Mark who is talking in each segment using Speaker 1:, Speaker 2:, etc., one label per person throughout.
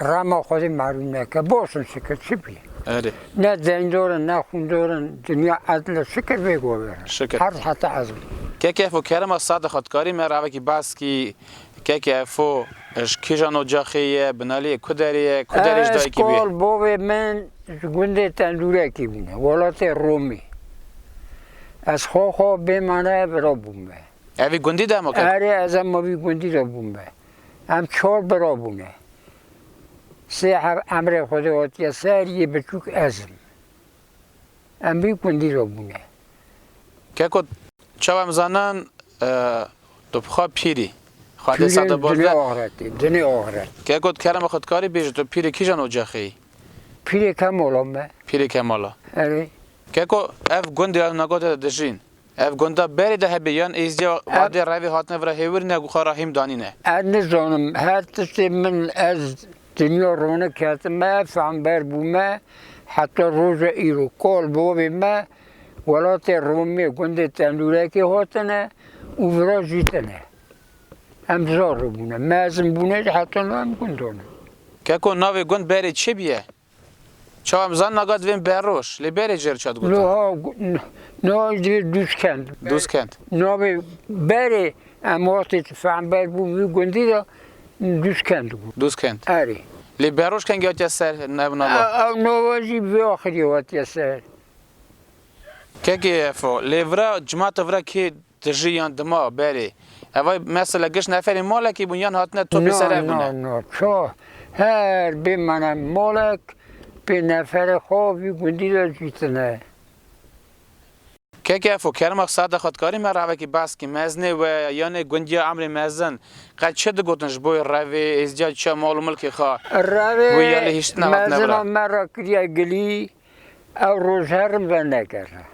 Speaker 1: Rama xwedî malûm neke. Boş in şikir çi bî. Erê. Ne
Speaker 2: zeyndor
Speaker 1: in ne xwîndor in dinya edl e şikir vê gover in. Şikir. Herz heta ez
Speaker 2: bû.
Speaker 1: Keke fo kerema
Speaker 2: sade xwedkarî me ravekî bas kî keke fo ji kîjan ocaxê ye, binalîyê ku derê ye, ku derê ji Ez dayikî bî. kol bovê min
Speaker 1: ji gundê Tendûrekî bûne welatê Romî. Ez xwe xwe bêmane vira bûme. Evî gundî de
Speaker 2: hema keke? Erê ez hema vî
Speaker 1: gundî de bûme. Em çar bira bûne. Sê her emrê Xwedê hatiye ser, yê biçûk ez im. Em vî gundî re bûne.
Speaker 2: Keko, çawa em zanin tu bi xwe pîrî. Xwedê ser de baz de. Dinê axretê, dinê axret.
Speaker 1: Keko, di kerema xwe
Speaker 2: dikarî bêjî tu pîrê kîjan ocexê yî? Pîrê
Speaker 1: Kemala me. Pîrê Kemala.
Speaker 2: Erê.
Speaker 1: Keko,
Speaker 2: ev gundê ya nagotê de dijîn. Ev gunda berê de hebê yan êzdiya vadê revê hatine vira hêwir ne ku xwe rahîm danîne? Ez nizanim
Speaker 1: her tiştê min ez dinya rone ketime fehmber bûme heta roja îro kal bi wavê me welatê romê gundê tenûrekê hatine û vira jîtine em zar re bûne mezin bûne jî heta no em gundan in. Keko navê
Speaker 2: gund berê çi bûye? Çawa em zan naga divên beroj. Lê berê cêr çat gotan. Lo ha nal divê
Speaker 1: Duzkend. Duzkend. Navê berê em wextê ti fehmber bû vî gundî de Duzkend bû. Duzkend. Erê. Lê beroj kengî
Speaker 2: hatiye ser ev nava? Ev nava jî vê
Speaker 1: axirî hatiye ser. Kekê
Speaker 2: Efo, lê vira cimata vira kê Tijî yan dima berê. Evay mesela giş neferên malekî bûn yan hatine topê ser ev bûne? Na, na, na. Ça
Speaker 1: her bêmene malek pê neferê xwe vî gundî de cûtine.
Speaker 2: Keke fû, kerma sade xwe dikarî me revekî behs kî mezinê we yan ê gundiya emrê mezin qet çi digotin ji bo wê revê êzdîya çiya mal û milkê xwe Revê wî ya lê
Speaker 1: hîştina hatine mezina bira? me re kiriye gilî Ew roj herin venegere.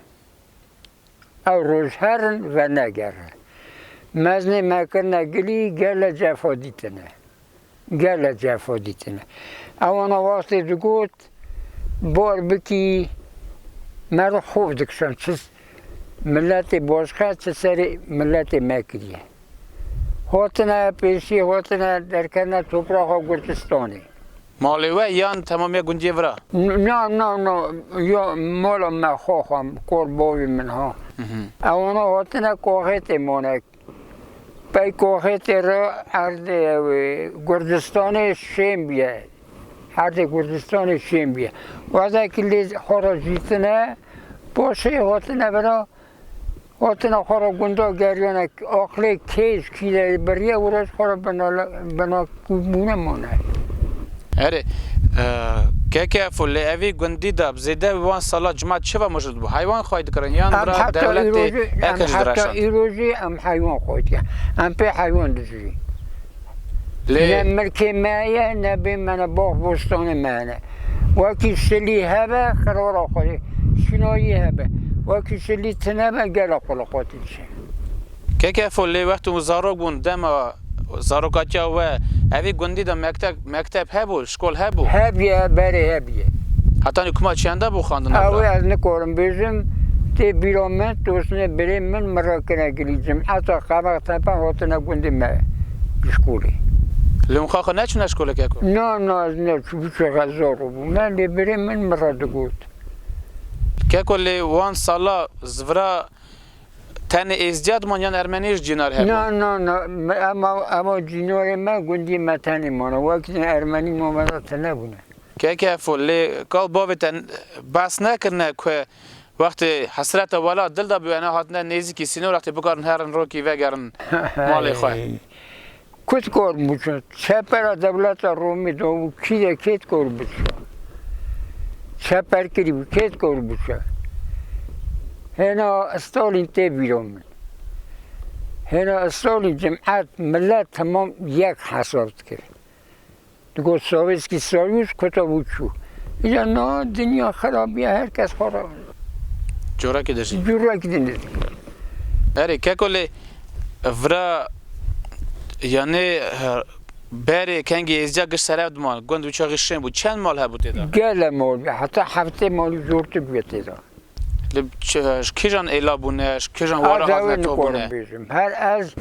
Speaker 1: Ew roj herin venegere. Meznê me kirine gilî gele cefa dîtine. Gele cefa dîtine. Ewana wastê digot bar bikî me re xov dikişan çi miletê başka çi serê miletê me kiriye. Hatine pêşî hatine derkevne topraxa Gurdistanê. Malê we
Speaker 2: yan temamiya gundiyê vira? Na na na
Speaker 1: ya mala me xwe xwe kor bavê min ha. Ewana hatine Koxêtê mane. Pey Koxêtê re erdê ew Kurdistanê şên bûye. Erdê Kurdistanê şên bûye. Wextekî lê xwe re jîtine paşê hatine vira Hatina xwe re gundan geriyane aqilê kêj kîleyê biriye û roj xwe re binakûbûne mane. Erê,
Speaker 2: KKF û li evî gundî de bi zêde bi wan sala cima çi va mujûd bû? Heywan xway dikirin yan bira dewletê ek ji diraşand? Em heta îrojê em
Speaker 1: heywan xway dikin. Em pê heywan dijî. Lê. Ne milkê me ye, ne bê me ne bax bostanê me ne. Wekî şilî hebe xirora xwe rê, şinayî hebe. Wekî şilî tine be gela xwe li xwe diçe. Keke fol lê wextê
Speaker 2: zarok bûn dema zarokatiya we evî gundî de mektek Mekteb hebû, şkol hebû? Hebûye, berê
Speaker 1: hebûye.
Speaker 2: Heta nî kuma çiyanda bû xandina bira? Ewê ez nikorim
Speaker 1: bêjim, tê bîra min, tosnê birê min min re kine gilî cimeta qevex tepe hatine gundê me ji şkolê. Li Unxa
Speaker 2: xwe neçûne şkolê keko? Na, na ez neçûm, hiçê
Speaker 1: xezar bû me, lê birê min min re digot.
Speaker 2: Keko lê wan sala zivira. Tenê êzdiya diman yan ermeniyê jî cînar hebûn? Na na na ema
Speaker 1: ema cînarê me gundiyê me tenê mane wek ne ermenî mame ra tine bûne. Keke fol lê
Speaker 2: gal bavê te behs nekirine ku wextê hesrete wela dil de bûyene hatine nêzîkî sînor wextê bikarin herin rokî vegerin malê xwe. Kut
Speaker 1: kor bûçûn. Çepera dewleta Romî de û kî de kêt kor bûçûn. Çeper kirî bû kêt kor bûçûn. Hêna Stalîn tê bîro min. Hêna Stalîn cimet, milet temam yek hesab dikir. Digot Sovetski Soyuz kota bû çû. Îcar na dinya xerab ya her kes xwe ra. Corekî
Speaker 2: dijî. Corekî din dijî. Berê keko lê vira yanê berê kengê êzca giş serev dima gund û çaxî şên bû. Çend mal hebû tê de? Gele mal heta
Speaker 1: heftê malî zortir bûye tê de. Li
Speaker 2: kîjan êla bûne, ji kîjan were hatine to bûne? Her ez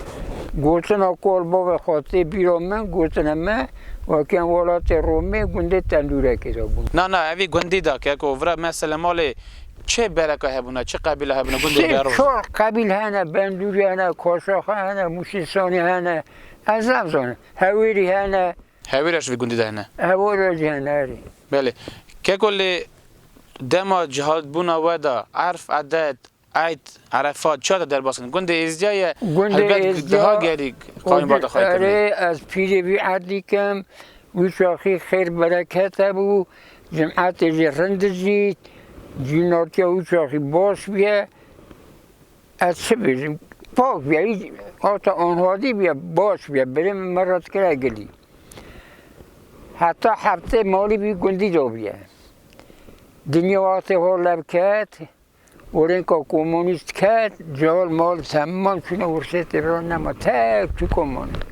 Speaker 1: gotina ku li bavê xwe tê bîra min gotine me weke em welatê Romê gundê Tendûrekê de bûn. Na na evî gundî de
Speaker 2: ke ku vira me Selemalê çê bereka hebûne, çê qebîle hebûne gundê Berûz? Sê çar qebîl hene,
Speaker 1: Bendûrî hene, Kaşaxê hene, Mûşêsanî hene, ez namzanim, Hewêrî hene. Hewêrî ya ji vî gundî de
Speaker 2: hene? Hewêrî ya jî hene
Speaker 1: erê. Belê.
Speaker 2: Ke ku lê. Dema cihaldbûna we de Erf, Edet, Eid, Erefat çiya te derbas kirin? Gundê Êzdîya ye. Gundê Êzdîya o di erê ez pîrê vî
Speaker 1: erdî kem. Wî çaxî xêr bereket hebû. Cim'etê jî rind dijît. Cînortîya wî çaxî baş bûye. Ez çi bijim, pak biya, hiç hata anhadî biya, baş biya, berê min me re dikira gilî. Heta heftê malî bî gundî de biya. Dinya wextê hol lev ket, orênka komunîst ket, cihal mal temman çûne wirsêtê re nema tek tu komunîst.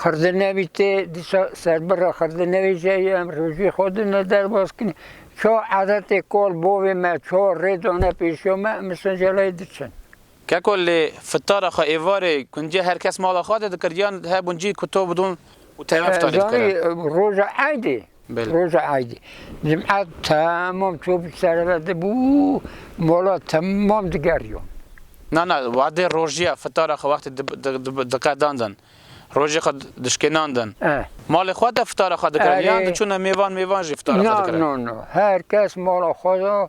Speaker 1: Xirdenevî tê dîsa serbira xirdenevî jî ey em rojî xwe din e derbas kinî. Ço edetê kol bovê me ço rê dane pêşiya me em Sincelayê diçin. Keko lê
Speaker 2: fitara xwe êvarê kuncê her kes mala xwe de dikir yan he buncî kuto bidon û teveftanê dikirin. Zanî roja eydê
Speaker 1: Roja Eydê, cum'e temam çû bi serê ve dibû mola temam digeriyo. Na na,
Speaker 2: wadê rojiya fitara xwe wextê diqedandin, rojê xwe dişkênandin, malê xwe de fitara xwe dikirin yan diçûne mêvan mêvan jî fitara xwe dikirin? Na na na, her kes
Speaker 1: mala xwe de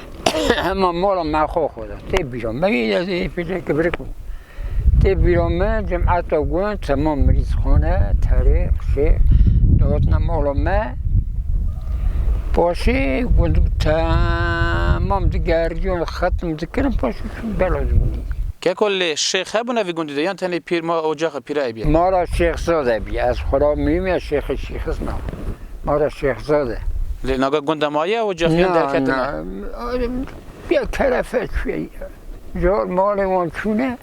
Speaker 1: hema mola me xwe xwe da. Tê bîra me yê ez ê pêlê kibirik bû. Tê bîra me cemata gund temam mirîz xone, terê, qişê dawetine mola me. Paşê gund temam digeriyon xetm dikirin paşê bela dibûnî. Keko lê
Speaker 2: şêx hebûne vî gundî de yan tenê pîr ma ocaxa pîra ebiye? Mala şêx zade
Speaker 1: ebiye. Ez xwe ra mîyûm ya şêxê şîxis na. Ma re Şêxzad e. Lê naga gunda
Speaker 2: ma ye û cexiyan derketin e? Na,
Speaker 1: ya terefe çûye ya. Car malê wan çûne,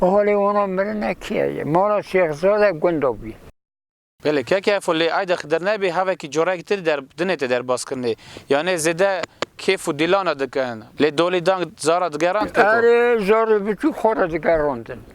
Speaker 1: alê wana mirine keye ye. Ma re Şêxzad e gunda bûye. Belê
Speaker 2: keke efo lê ayda Xidir nebê havekî corek tir der dinête derbaskirinê. Yanê zêde kêf û dîlana dikin. Lê dolî dang zara digerand keko? Erê, zarê biçûk
Speaker 1: xo re digerandin.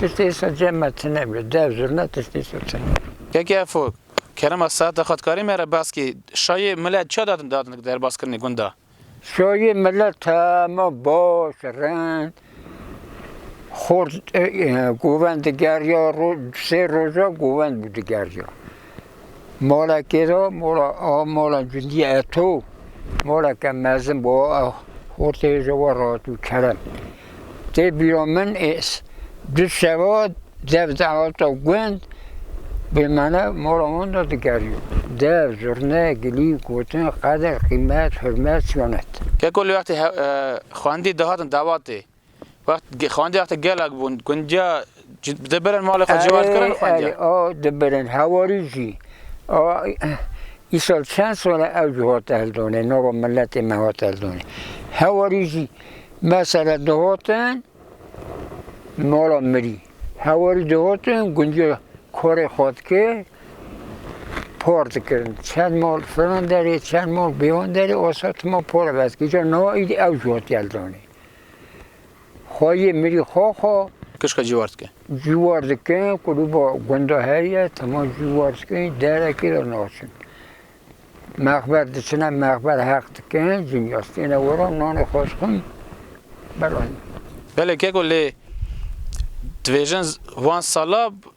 Speaker 1: Tiştê îsa cem me tune bî. Dev zurna tiştê îsa tune bî. Keke Fok,
Speaker 2: Kerema seheta xwedkarê me re bes kî, şayê milet çiya datin datin derbaskirinê gunda? Şayê
Speaker 1: milet heme baş, rind, xort, govend digeriya, roj, sê roja govend bû digeriya. Mola kê ra mola a mola cundî eto mola ke mezin bo a hortê ji we rahat û kerem. Tê bîra min ê du şeva dev de hata gund bêmane mola wan de digeriyo. Dev, zurne, gilî, gotin, qeder, qîmet,
Speaker 2: hurmet,
Speaker 1: siyonet.
Speaker 2: Keko
Speaker 1: li wextê xwendî
Speaker 2: dihatin davatê Wext xandiya te gelek bûn gundiya dibirin malê xwe cî wan kirin xandiya. A dibirin
Speaker 1: hewarî jî a îsal çend sal e ew jî hat eldonê nava miletê me hat eldonê. Hewarî jî mesela dihatin mala mirî hewarî dihatin gundiya karê xwe dikir par dikirin çend mal filan derê çend mal bêwan derê asa tima para vetkir îcar na îdî ew jî hat eldonê. Xwe yê mirî xwe xwe. Kişka cîwar dikin.
Speaker 2: Cîwar dikin
Speaker 1: ku rû ba gunda heye tema cîwar dikin derekê de naçin. Mexber diçine mexber heq dikin cinya stêne wera nanê xwe dixin beranî. Belê
Speaker 2: keko lê dibêjin van sala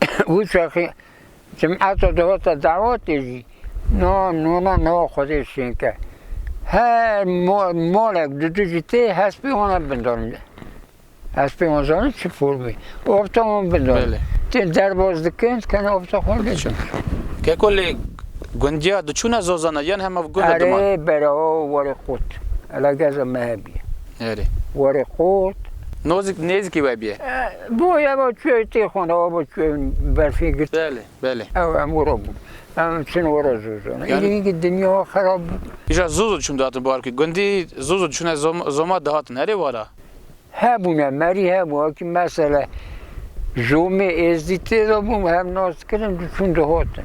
Speaker 1: Wîçaxê cemata dewata dawatê jî na nûna nawa Xwedê şênke. Her malek di du jî tê hespê wan ev bindanî de. Hespê wan zanî çi formê. Ofta wan bindanî. Tê derbas dikin, dikene ofta xwe dikin. Keko lê
Speaker 2: gundiya diçûne zozana yan hema gund e diman? Erê berao
Speaker 1: were qut. Ela geza me hebîye. Erê.
Speaker 2: Were qut.
Speaker 1: Nozik nêzikî
Speaker 2: we bîye. Boya va
Speaker 1: çûye tê xwe re ava çûye berfê girt. Belê, belê. Ew em
Speaker 2: were bûn.
Speaker 1: Em çûn were Zozon. Îdî îngî dinya xerab bû. Îja Zozon çûn dihatin
Speaker 2: barkê. Gundî Zozon çûne Zoma dihatin herê wara. Hebûne
Speaker 1: merî hebû. Wekî mesele Zomê Êzdî tê de bû. Hev nas dikirin, diçûn dihatin.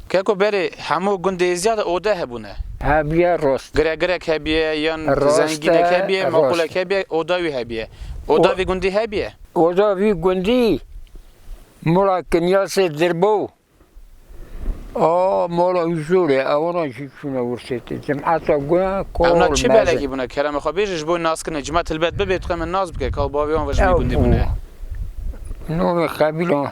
Speaker 2: Keko berê hemû gundê ziyade ode hebûne. Hebiye rost.
Speaker 1: Gire girek hebiye
Speaker 2: yan zengînek hebiye maqulek hebiye oda wî hebiye. Oda vî gundî hebiye? Oda vî gundî
Speaker 1: mola kinyasê dirbo a mola huzurê ewana jî çûne wirsê te cemata guna kol mezin. Ewna çi belekî bûne
Speaker 2: kerema xwe bêje ji bo naskirine cima tilbet bibe dixwe min nas bike ka û bavê wan ve ji vî gundî bûne. Navê
Speaker 1: qebîlan.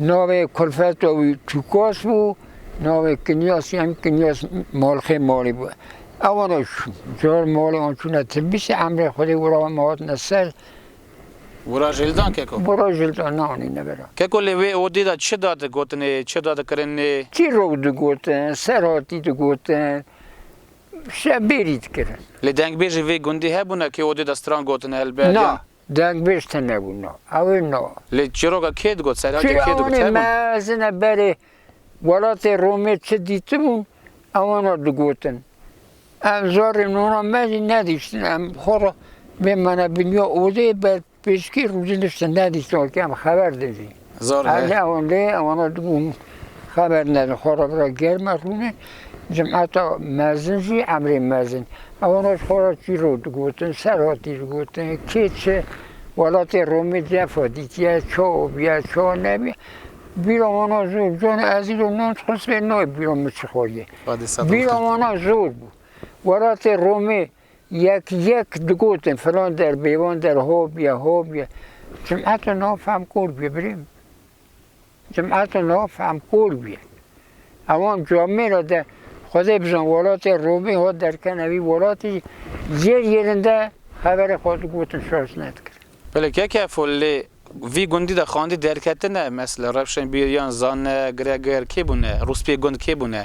Speaker 1: Navê kulfeta wî Çûkos bû, navê Kinyas yan Kinyas Malxê Malî bû. Ewan e zor malê wan çûne Tilbîsê, emrê Xwedê wira wan hatine ser.
Speaker 2: Wira jildan keko? Wira jildan ne anîne
Speaker 1: vera. Keko lê wê odê
Speaker 2: de çi da digotinê, çi da dikirinê? Çîrok digotin,
Speaker 1: serhatî digotin, şebêrî dikirin. Lê dengbêjî vê
Speaker 2: gundî hebûne kê odê de stran gotine helbet? Na, Dengbêj
Speaker 1: tune bû no. Ew ê no. Lê çîroka kê
Speaker 2: digot, serheke kê digot? Çi ewanê mezin e
Speaker 1: berê welatê Romê çi dîtibûn, ewano digotin. Em zarê nûna me jî nedîştin. Em xwe re bêmane bi nûya odeyê ber pêşkê rûdî niştin nedîştin wekî em xeber dijîn. Hêzê ewendê
Speaker 2: ewanda
Speaker 1: dibûn xeber nedin xwe re bira germ e rûnê cemata mezin jî emrê mezin ewanda ji xwe re çîrok digotin ser hatî digotin kê çi welatê Romê cef e dîtiye ça biye ça nebiye bîra wana zor bû canê ez îro nont xwest bê nayê bîra min çi xwediyê bîra wana zor bû welatê Romê Yek yek digotin filan der bêvan der hov ye hov ye. Cemata niha fehm kor bûye birêm. Cemata niha fehm kor bûye. Ewan camê re de Xwedê bizan welatê Romê hat derken evî welatî yêr yêrinde xeberê xwe digotin şaş nedikir. Belê keke fo
Speaker 2: lê vî gundî de xandî derketine mesela Rewşenbîr yan Zane, Gregor kê bûne? Rûspiyê gund kê bûne?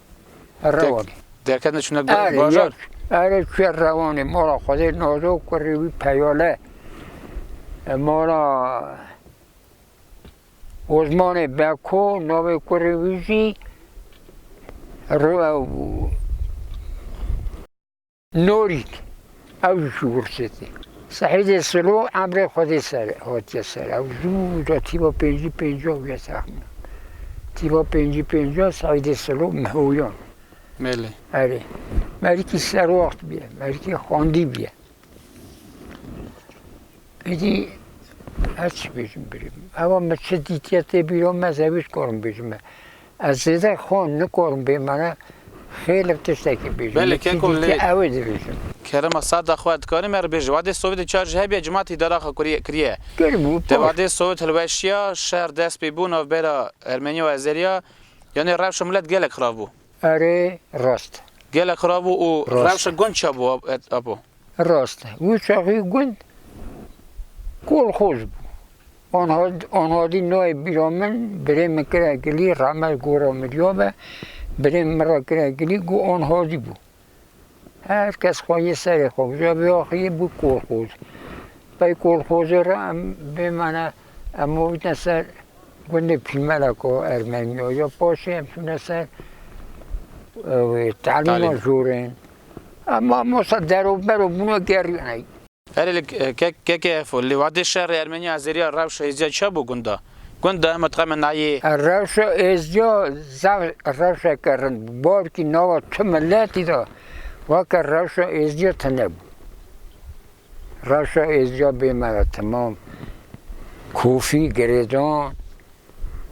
Speaker 1: Rewan. Derket ne
Speaker 2: çune Are bajar. yek. Are çuya
Speaker 1: rewanê mala xwedê nazo kurê wî peyale. E, Mala Ozmanê Beko navê kurê wî jî Ro- Norîk, ew jî ji Wurçê tê. Sehîdê Silo emrê Xwedê ser e, hatiye ser ew zû da tîva pêncî pêncî û ya texmînan. Tîva pêncî pêncî ya Sehîdê Silo Mihoyan. Belê.
Speaker 2: Erê.
Speaker 1: Merikî serwaxt bîye, merikî xwendî bîye. Êdî her çi bêjim birê. Ewa min çi dîtiye tê bîra me zewî ji karim bêjim me. Ez zêde xwe nikarim bê mane xêlek tiştekî bêjim. Belê Keko lê. Yekî dî ew
Speaker 2: ê dibêjim.
Speaker 1: Kerema Sada xwe
Speaker 2: dikarim err bêjim. Wadê Sowêtê çar jî hebîya cimati dara xwe kurî kirîye. Kiribû pişt. Dê wadê
Speaker 1: Sowêt
Speaker 2: hilweşîya, şer dest pê bû navbera ermenî û azerîya, yanî rewşa milet gelek xirab bû. Erê rast.
Speaker 1: Gelek xirab bû
Speaker 2: û rewşa gund çabû apo. Rast e, wî
Speaker 1: çaxî gund kolxoz bû. Anadî nayê bîra min, birê min kira gilî, rahmet gora mirya be, birê min min ra kira gilî got Anadî bû. Her kes xwe yê serê xwe bû. Ca vê axirî bû kolxoz. Qey kolxozê re em bêmane em avitine ser gundê Pîlmeleko Ermeniya. Paşê em çûne ser talîma jorên. Em mamosta derobero bûne gerîyane. Erê li
Speaker 2: KKF û li Wadê Şerê Ermenî Azerî ya rewşa êzdîya çi hebû gunda? Gunda em û dixeme nayê. Rewşa êzdîya
Speaker 1: zaf rewşeke rind bû. Balkî nava tu miletî de weke rewşa êzdîya tune bû. Reşa êzca bê me re temam. Kofî, girêdan,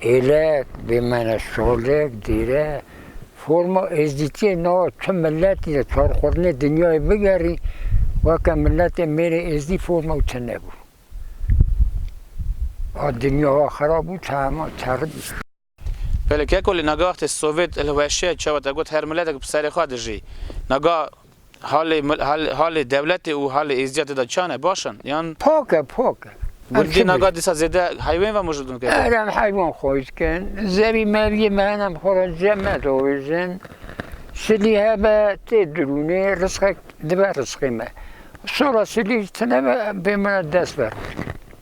Speaker 1: êlek, bê me re şalek, dêre, forma êzdîtiyê nawa tu miletî de çar xurtinê dinyayê bigerî weke miletê mêrê êzdî forma û tine bû. A dinya wa xerab bû, tahema terim. Belê
Speaker 2: keko lê nagah wextê Sovyet hilweşiya çawa te got her miletek bi serê xwe dijî. Nagah halê halê dewletê û halê êzdîya te de çane? Baş in? Yan. Pok e pok e.
Speaker 1: Gundî
Speaker 2: nagah dîsa zêde heywên ve mijûl dibin keko? Erem heywan xwe
Speaker 1: dikin. Zerî mergî me hene bi xwe re cem me diavêjin. Silî hebe tê dirûnê risqek dibe risqê me. Sora silî ji tune ve bê min re dest berfirkin.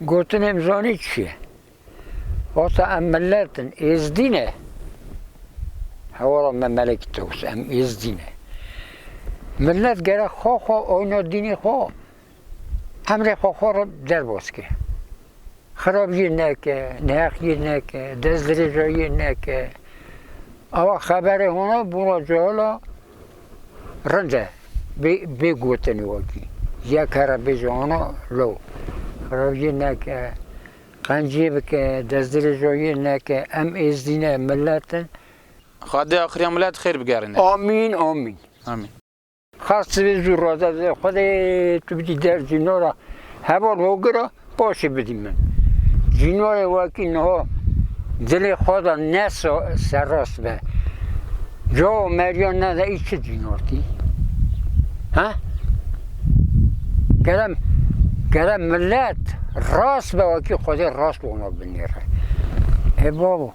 Speaker 1: Gotin em zanî çi ye. Vata em milet in, êzdî ne. Hewala me Melek Tewis em êzdî ne. Milet gerek xwe xwe oyna dînê xwe emrê xwe xwe re derbas ke. Xirabiyê neke, neheqiyê neke, destdirêjayiyê neke. Awa xeberê hona bûna cahil a Rind e bê gotinê wekî yek here bêje ona lo. Rewiyê neke, qenciyê bike, destdirêjoyê neke, em êzdî ne, milet in. Xwedê
Speaker 2: axiriya milet xêr bigerîne. Amîn amîn.
Speaker 1: Amîn. Xas sivê zû raze. Xwedê tu bidî dercî nora heval hogir a. Paşê bidî min. Cînoyê wekî niha dilê xwe de ne serrast be. Cawa meriya nede î çi dînartî? Ha? Gere, gere millet rast be wekî Xwedê rast wana binêre. E babo,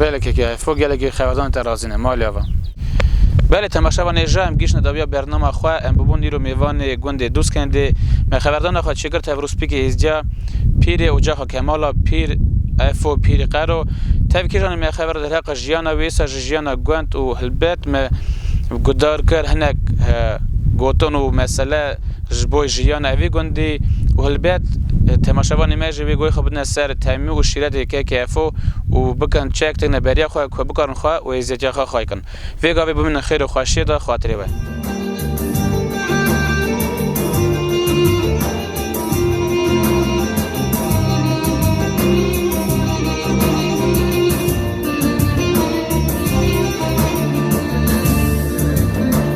Speaker 1: Belekê
Speaker 2: ke hevfo gelekê xewedan te razî ne, ma lê ava. Belê temaşa vanê ja em gihîşne dawiya bernama xwe, em bûbûn îro mêvanê gundê Dûzkendê. Me xeverdana xwe çêgirt hev rûspîkê hêzciya Pîrê Ocaxa Kemala, Pîr Efo Pîrî Qero. Tev kîjanê me xever derheqa jiyana wê sa ji jiyana gund û hilbet me gudar kir hinek gotin û mesele. ji bo jiyana vî gundî û helbet temaşevanê me jî wê goyê xwe bidine ser temî û şîretê KKFO û bikin çek têkine beriya xwe ku bikarin xwe û hêziyetiya xwe xay kin. Vê gavê bimînin xêr û xweşiyê di xatirê we.